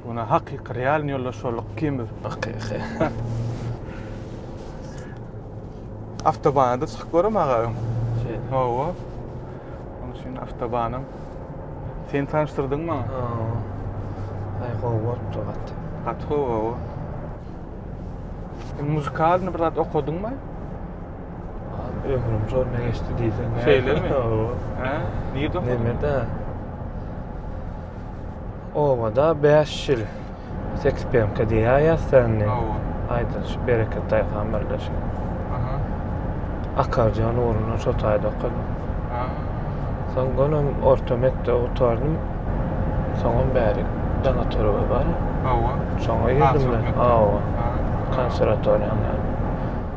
Buna hakyky realny ýoldaş bolduk ikimiz. Hakyky. Awtobana çykyp görem aga öň. Şey. Hawa. Onuň üçin awtobanym. Sen tanyşdyrdyň maňa. Hawa. Aý gowy bolupdyr gat. Gat gowy. Muzikalny bir zat okadyňmy? Ömrüm şonda geçdi diýseň. Şeýlemi? Hä? Nirde? Nemede? Obada 5 ýyl. Seks pemke diýýäs sende. Hawa. Aýdyň şu bereket taýhan birleşik. Aha. Akarjan ugruna şo taýda okadym. Ha. Soň gönüm orta mekdep otardym. Soňam bäri dana törebe bar. Hawa. Şoňa ýüzüm men. Hawa. Konservatoriýa.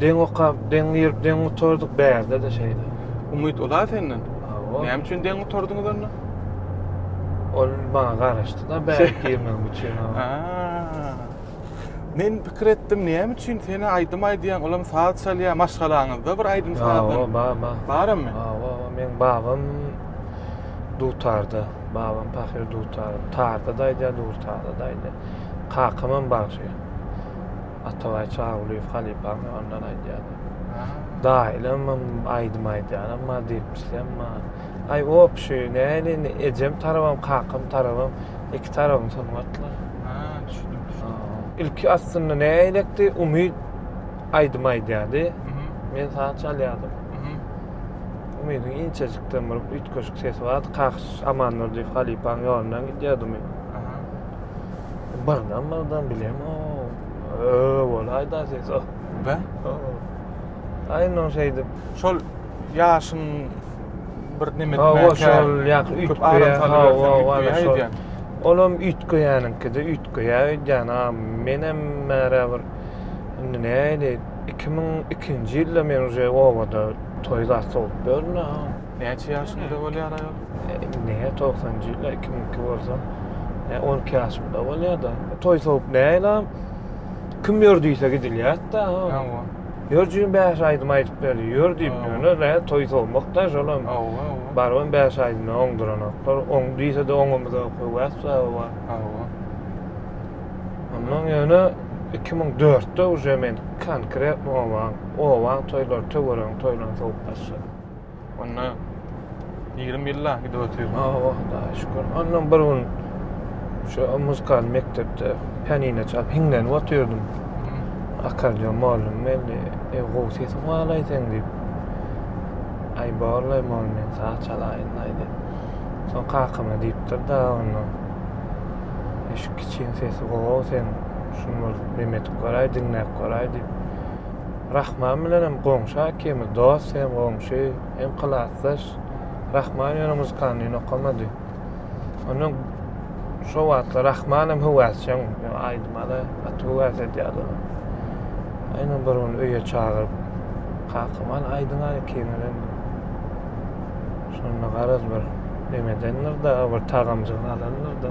Deň okap, deň girip, deň gutardyk, bärde-de şeýle. Umyt uza senden? Hawa. Näme üçin deň gutardyňyz onda? Ol maňa garaşdy-da bäri girmegim üçin. Men pikir etdim, näme üçin sen-ä aýdym aýdýaň, olam saz çalýar, maşgalaňyzda bir aýdym sazam. Hawa, bar, bar. Barmy? Hawa, meň babam dutarda, babam pahyr dutar, tarda-da aýdýar, durtarda-da aýdýar. Kakam hem bagşy. Atabaý Çawlyýew halypam ondan aýdýardy. Daýlamam aýdym aýdýaram bar diýipmişsem bar. Aý opşy näl indi ejem tarabam kakam tarabam iki tarabym sungatly. Ha, düşündim, düşündim. Ilki aslynda näýlekdi Umyt aýdym aýdýardy. Men saz çalýardym. Umydyň inçejikden bir üýtgeşik sesi bardy. Kakşy Amandurdyýew halypaň ýolundan gidýärdi Umyt. Bardan bardan bilem o. Öö bolaý da ses o. Be? Aýno şeýdip. Şol ýaşyn bir neme etmek. Hawa şol ýak üýtgeýär. Olam üýtgeýäniňkide üýtgeýär öýdýän. A menem märe bir indi näli 2002-nji ýylda men uje obada toý zat sowup ýörün. Näçe ýaşynda bolýar aýal? Indi 90-njy ýyllar 2002 bolsa 12 ýaşymda bolýar-da. Toý sowuk näl-a? Kim ýör diýse gidilýär-de. Hawa. Ýör jigim bäş aýdym aýdyp berdi. Ýör diýip ýöne nä toý sowmak-da şolam. Hawa. Barybam bäş aýdymdan oňduranoklar. Oň diýse-de oňamyza höwes baby bar. Hawa. Onnoň ýöne 2004-de uje men konkretno obaň, obaň toýlary, töweregiň toýlaryny sowuk başladym. Onda 20 ýylla gidip otyr. Awa, da şükür. Ondan bir gün şu muzykal mekdepde pianino çalyp hiňlenip otyrdym. Akordeon mallum belli. E, gowy sesiň bar aýdýan diýip. Aý, borlaý, mallum men saz çalaýyn aýdy. Soň kakama diýipdir da onda. E, şu kiçiň sesi gowy sen. Şuny bir bem edip göräý, diňläp göräý diýip. Rahman bilenem goňşa ikimiz dost hem goňşy hem klasdaş. Rahman ýöne muzkanlyny okamady. Ondan şo wagtlar Rahman hem höwäsjeň aýdymada gaty höwäs edýärdi. Aýna bir gün öýe çagyryp Kakaman aýdyň aý ikimize. Şonda garaz bir nemedendir da bir tagamjyk alandyr da.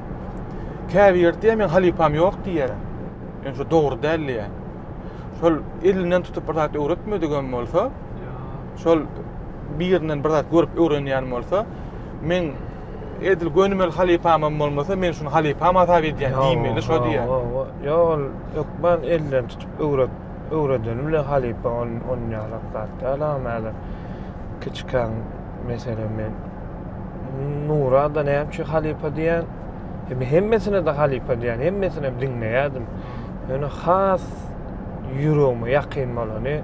Käbiri diýýär, meň halypam ýok diýýär. Ýöne şu dogry däl diýýär. Şol elinden tutup bir zat öwretmedigem bolsa, şol birinden bir zat görüp öwrenýän bolsa, meň edil gönümel halypamam bolmasa, men şuny halypam hasap edýän diýmeli şo diýýär. Ýok, ol hökman elinden tutup öwret, öwredeni bilen halypa onýanrak zat däl-ä, kiçikäň Meselem men Nurada näme üçin halypa diýen? Hem hemmesine de halypa diýen, hemmesini hem diňleýärdim. Ýöne has ýüregime ýakyn bolany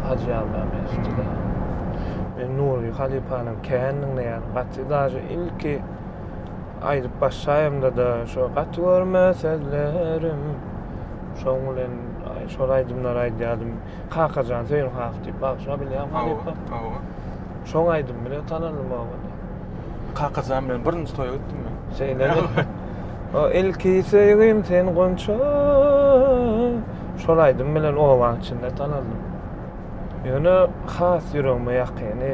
Hajy Ýalda Mezitdi. Men Nury halypanyň kän diňleýän, gaty daže ilki aýdyp başlaýamda da şo gaty görme sözlerim. Şoň bilen şol aýdymlary aýdýardym. Kakajan söýün has diýip bagşa bilýän halypa. Hawa. Şoň aýdym bilen tanandym oňa. Kakajan bilen birinji toýa gitdim men. Şeýle. O ilki söýgim sen gonça. Şol aýdym bilen oba içinde tanandym. Ýöne has ýüregime ýakyny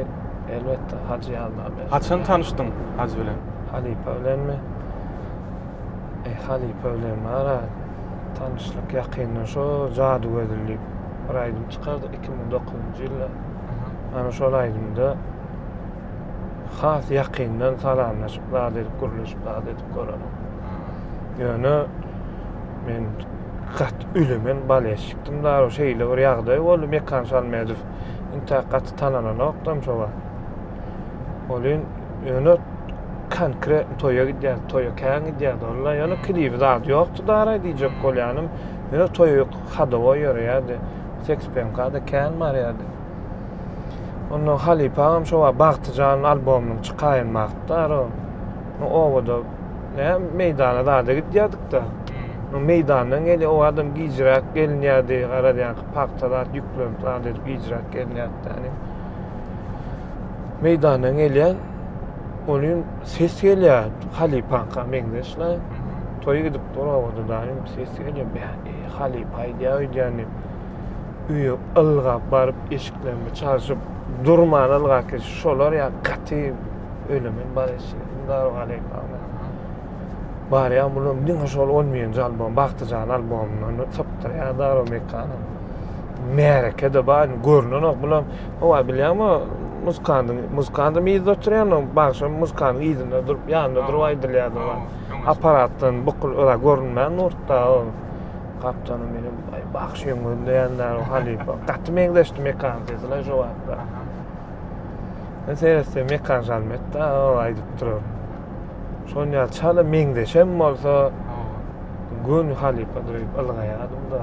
elbetde Hajy Ýaldaberdi. Haçan tanyşdyň Hajy bilen? Halypa bilenmi? E, halypa bilen ara Tanışlyk ýakyndan şo Jady gözül diýip bir aýdym çykardyk 2009-njy ýylda. Ana şol aýdymda has ýakyndan salamlaşyp zat edip gürleşip zat edip görenim. Ýöne men gat ülemen balýaçykdym da şeýle bir ýagdaý boldy Mekan Şalmedow intä gaty tanalanokdam şo wagt. Olin öne konkret toya gidýär, toya kän gidýär. Ola ýöne klibi zat ýokdy dara diýjek bolýanym. Ýöne toya hadowa ýöreýärdi. Seks penka da kän barýardy. Onda Halipa hem şu wagt Bagtyjan albomyny çykaýan wagtda ara. O owada ne meýdana zada gidýärdik da. O hmm. meýdandan geli o adam gijräk gelinýärdi. Garaz ýa pagta zat ýüklenip zada gijräk gelinýärdi. meýdandan gelýän olim ses gelýär halypaňka meňzeş la toý gidip dur obada daýym ses gelýär bäh eý halypa aýdýa öýdýän diýip öýe ylgap baryp eşiklerini çalşyp durman ylgap git şolar ýa gaty ölemen bar eşigi daru halypa barýan bulam diňe şol on birinji albom bagtyjan albomyndan sypdyrýar daru mekanyň Märekede bar indi görnenok bulam. Howa bilýäňmi, muzkandyň, muzkandyň yzda oturýandygyny, bagşam muzkandyň yzynda durup, ýanynda durup aýdylýardy oňa. Apparatdan bukul ora görünmän nurtda ol. Gapdalym menem, aý, bagşy öň gözleýän däl, halypa. Gaty meňzeşdi Mekan sesi-le şo wagtlar. Men seretsem Mekan Žalmet-dä ol aýdyp duran. Şonuň ýaly çala meňzeşem bolsa, göni halypa durup ylgaýardym-da.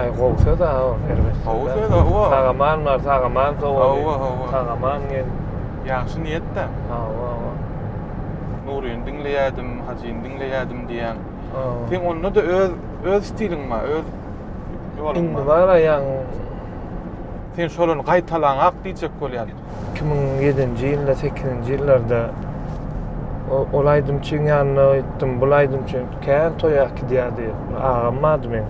Ay gowy söz ha o erbet. Gowy söz ha o. Sagaman bar, sagaman sowa. Hawa, hawa. Sagaman gel. Ýagşy niýetde. Hawa, hawa. Nuryny diňleýädim, Hajyny diňleýädim diýýän. Hawa. Sen onda da öz öz stiliň bar, öz ýoluň bar. Indi bar aýagyň. Sen şolary gaýtalaňak diýjek bolýaryn. iki müň ýedinji ýylda sekizinji ýyllarda ol aýdymçyň ýanyna gitdim bul aýdymçy kän toý akidýärdi agam bardy meň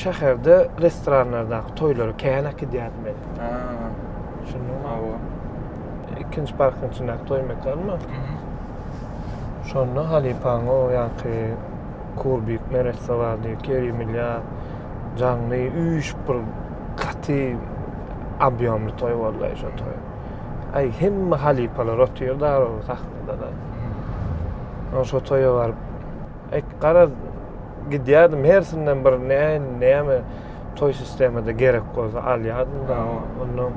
şäherde restoranlardaky toýlara kän akidýärdi meni ikinji parkyň içindäki toý mekanma şonda halypaň o ýaňky kurbik neresse bardy kerimilýa Jaňly üýşüp bir gaty obýomly toý boldy şo toý. Aý hemme halypalar otyrdy arada sahnada da. Hmm. Şo toýa baryp ek garaz gidýärdim hersinden bir ne näme toý sistemada gerek bolsa alýardym da. Ondan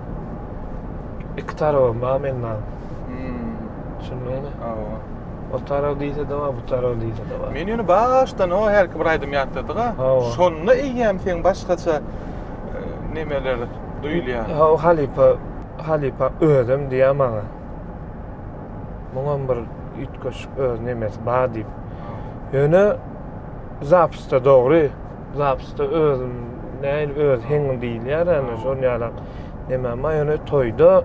iki tarabam bar menden. Düşündiňmi? Hawa. O tarag diýse-de bar, bu tarag diýse-de bar. Men ýöne başdan o herki bir aýdym ýatladyga. Şonda eýýäm sen başgaça e, nemeler duýulýar. Ha, halypa, halypa özüm diýýär maňa. Muňam bir üýtgeşik öz nemesi bar diýip. Ýöne zapysta dogry. Zapysta özüm näil öz heňim diýilýär, ýöne şol ýaly neme, ýöne toýda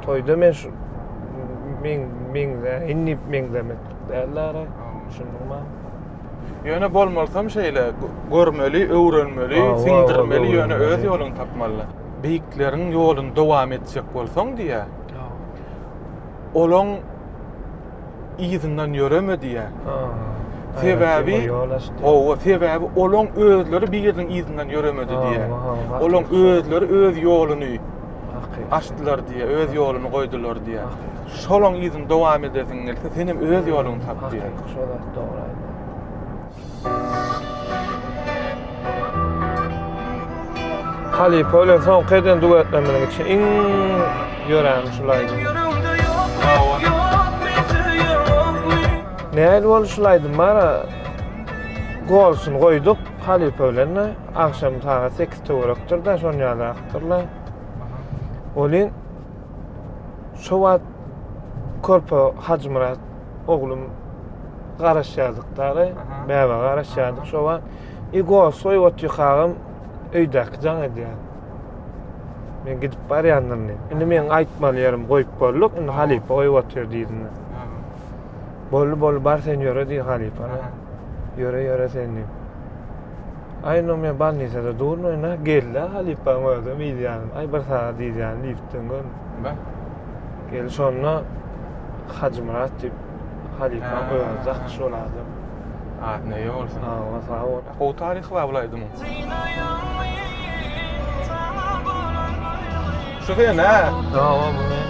Toýda men şu men meňze, indi meňzemek dällere. Düşündiňmi? Ýöne bolmalysam şeýle görmeli, öwrenmeli, siňdirmeli, ýöne öz ýoluňy tapmaly. Beýikleriň ýoluny dowam etjek bolsaň diýýär. Olaň yzyndan ýöreme diýýär. Sebäbi hawa, sebäbi olaň özleri biriniň yzyndan ýöremedi diýýär. Olaň özleri öz ýoluny açdylar diýýär, öz ýoluny goýdular diýýär. Şolaň yzyny dowam edesiň gelse, sen hem öz ýoluňy tap diýýär. Şol zat dogry aýdýar. Halypa bilen soňky eden duetlerimiziň içinde iň ýörän şu laýdyň. Nähili boldy şu laýdym bara? Golsun goýduk halypa bilen de. Agşam sagat 8 töwerekdir de şon ýaly akdyrlar. Welin şu wagt körpe Hajymyrat oglum garaşýardyk dagy, bäbe garaşýardyk şo wagt. I gosoý otykagyň öýdäki jaň edýär. Men gidip barýandyryn diýip. Indi men aýtmaly ýerim goýup bolduk, indi halypa goýup otyr diýdimde. Boldy, boldy, bar sen ýöre diý halypa. Ýöre, ýöre sen diýip. Aý, indi men bolnisada durnaýyn-a, gel-de halypaň özi, meýilýäniň. Aý, bir sagat ýitýän diýipdim. Bä. Gel şonda Hajymyrat diýip halypaň Ha. özi dakýşy şol adam. Adyny eýe bolsun. Sag bol, sag bol. Gowy taryhy bar bul aýdymyň. Şu sen hä? Hawa bu men.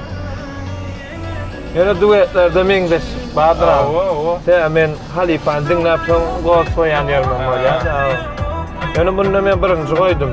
Ýöne duetlerde meňzeş bardyr agam. Hawa hawa. Tä men halypany diňläp soň gost goýan ýerimem bolýar. Ýöne munda men birinji goýdum.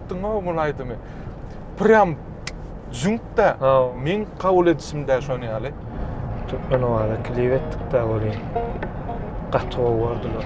Aýtdyňow muny aýdymy. Prýam jüňkde. Meň kabul edişimde şony ýaly. Türkmen owaza klip etdikde welin gaty gowy gördiler.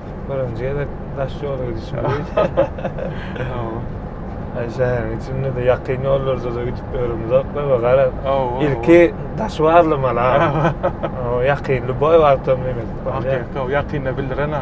Birinji gezek daş ýola gidişim Ay şäheriň içinde de ýakyn ýollarda da gidip ýöremzok da gara. Ilki daş barlamaly ha. Ýakynly boý bartam demek. Ýakynda bildiren ha.